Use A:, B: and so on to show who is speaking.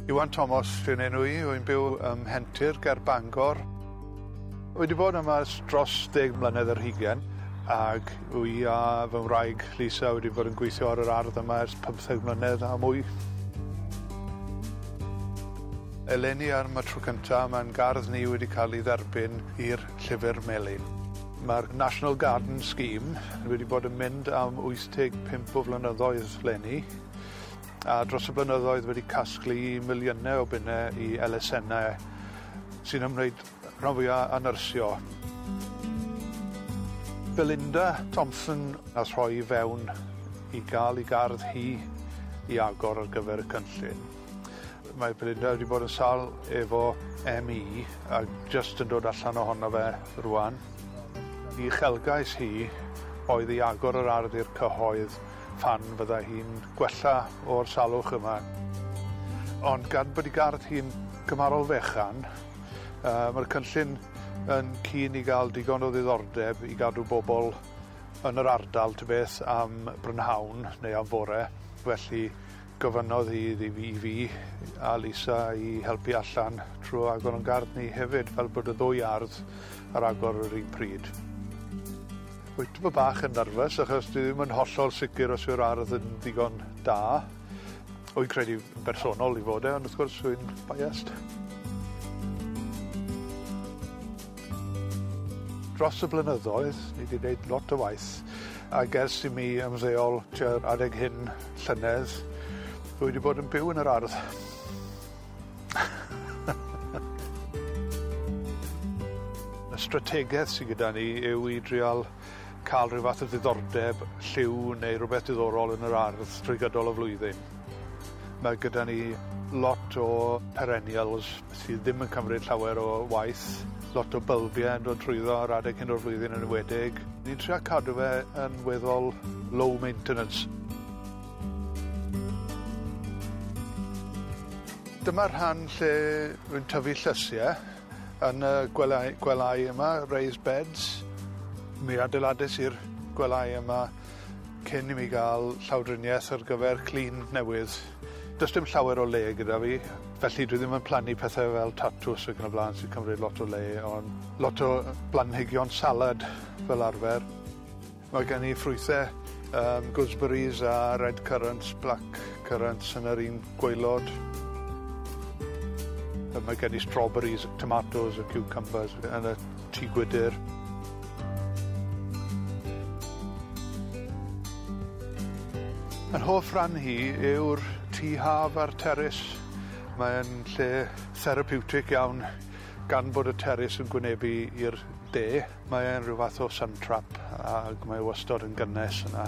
A: Iwan Tomos fy enw i, wy'n byw ym Mhentir ger Bangor. Wedi bod yma dros deg mlynedd yr hugen ac wy a fy wraig Lisa wedi bod yn gweithio ar yr ardd yma ers 15 mlynedd a mwy. Eleni ar y tro cynta mae'n gardd ni wedi cael ei dderbyn i'r Llyfr Melyn. Mae'r National Garden Scheme wedi bod yn mynd am 85 o flynyddoedd leni. a dros y blynyddoedd wedi casglu miliynau o bunnau i elusennau sy'n ymwneud rhan fwyaf â nyrsio. Belinda Thompson a throi i fewn i gael ei gardd hi i agor ar gyfer y cynllun. Mae Belinda wedi bod yn sal efo ME a jyst yn dod allan ohono fe rwan. I chelgais hi oedd i agor yr ardd i'r cyhoedd Fan fyddai hi'n gwella o'r salwch yma. Ond gan bod 'i gardd hi'n cymharol fechan, yy ma'r cynllun yn keen i ga'l digon o ddiddordeb i gadw bobol yn yr ardal tybeth am brynhawn neu am fore, felly Gofynnodd hi i fi i fi a Lisa i helpu allan trwy agor o'n gardd ni hefyd, fel bod y ddwy ardd ar agor yr un pryd. Wyt ti bach yn nyrfys achos dwi ddim yn hollol sicr os yw'r ardd yn ddigon da. Wy'n credu yn bersonol i fod e, ond wrth gwrs wy'n biased. Dros y blynyddoedd, ni wedi gwneud lot o waith ac ers i mi ymddeol tua'r adeg hyn, Llynedd, dwi wedi bod yn byw yn yr ardd. Y strategaeth sydd gyda ni yw i drial cael rhyw fath o ddiddordeb, lliw neu rhywbeth diddorol yn yr ardd drwy gydol y flwyddyn. Mae gyda ni lot o perennials, sydd ddim yn cymryd llawer o waith, lot o bylbie yn dod trwyddo ar adeg hyn o'r flwyddyn yn enwedig. Ni'n trio cadw fe yn weddol low maintenance. Dyma'r rhan lle rwy'n tyfu llysie yn y gwely- gwelyau yma, raised beds. Mi adeilades i'r gwelyau yma cyn i mi ga'l llawdrinieth ar gyfer clun newydd. Does dim llawer o le gyda fi felly dwi ddim yn plannu pethe fel tatws ac yn y bla'n sy'n cymryd lot o le on' lot o yy blanhigion salad fel arfer. Mae gen i ffrwythe yym gooseberries a red currants black currants yn yr un gwaelod. A mae gen i strawberries, tomatos a ciwcymbyrs yn y Tŷ Gwydir. Yr hoff ran hi yw'r tŷ haf a'r teris. Mae'n lle therapiwtig iawn gan bod y teris yn gwynebu i'r de. Mae'n rhyw fath o sun trap ac mae wastod yn gynnes yna.